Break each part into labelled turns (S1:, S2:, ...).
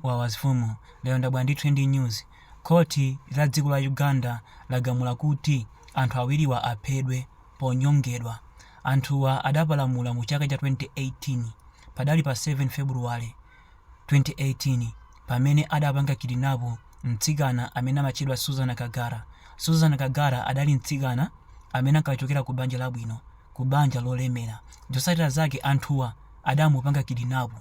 S1: Wawa mfumu lero ndabwera ndi trending news, khoti la dziko la Uganda lagamula kuti anthu awiriwa aphedwe ponyongedwa. Anthuwa adapalamula mu chaka cha 2018 padali pa 7 February 2018 pamene adapanga kidinapu mtsikana amene amatchedwa Susan Kagara. Susan Kagara adali mtsikana amene ankachokera ku banja labwino, ku banja lolemera. Zotsatira zake anthuwa adamupanga kidinapu.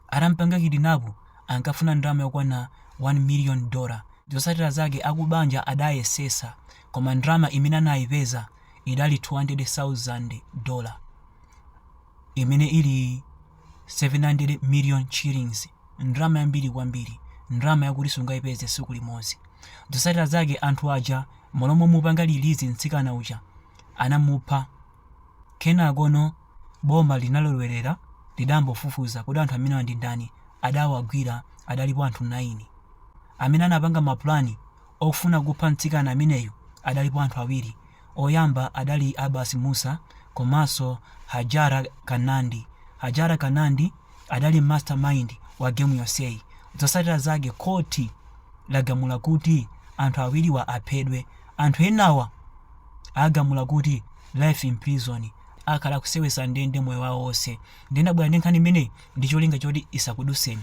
S1: Atampanga kidinapu ankafuna ndalama yokwana 1 miliyoni dola. Zotsatira zake akubanja adayesetsa koma ndalama imene anayipeza idali 200,000 dola imene ili 700 miliyoni shillings ndalama yambiri kwambiri, ndalama yakuti sungayipeze tsiku limodzi. Zotsatira zake anthu aja mmalo momupanga release mtsikana uja anamupha. Kenakono boma linalowerera lidambofufuza kuti anthu amenewa ndi ndani adawagwira adalipo anthu 9. Amene anapanga ma plan ofuna kupha mtsikana ameneyo adalipo anthu awiri oyamba adali Abbas Musa komanso Hajara Kanandi. Hajara Kanandi adali mastermind wa game yonseyi. Zotsatira zake court lagamula kuti anthu awiriwa aphedwe. Anthu enawa. agamula kuti life in prison akhala akuseweza ndende moyo wawo wonse ndinabwera ndi nkhani imeneyi ndi cholinga choti isakuduseni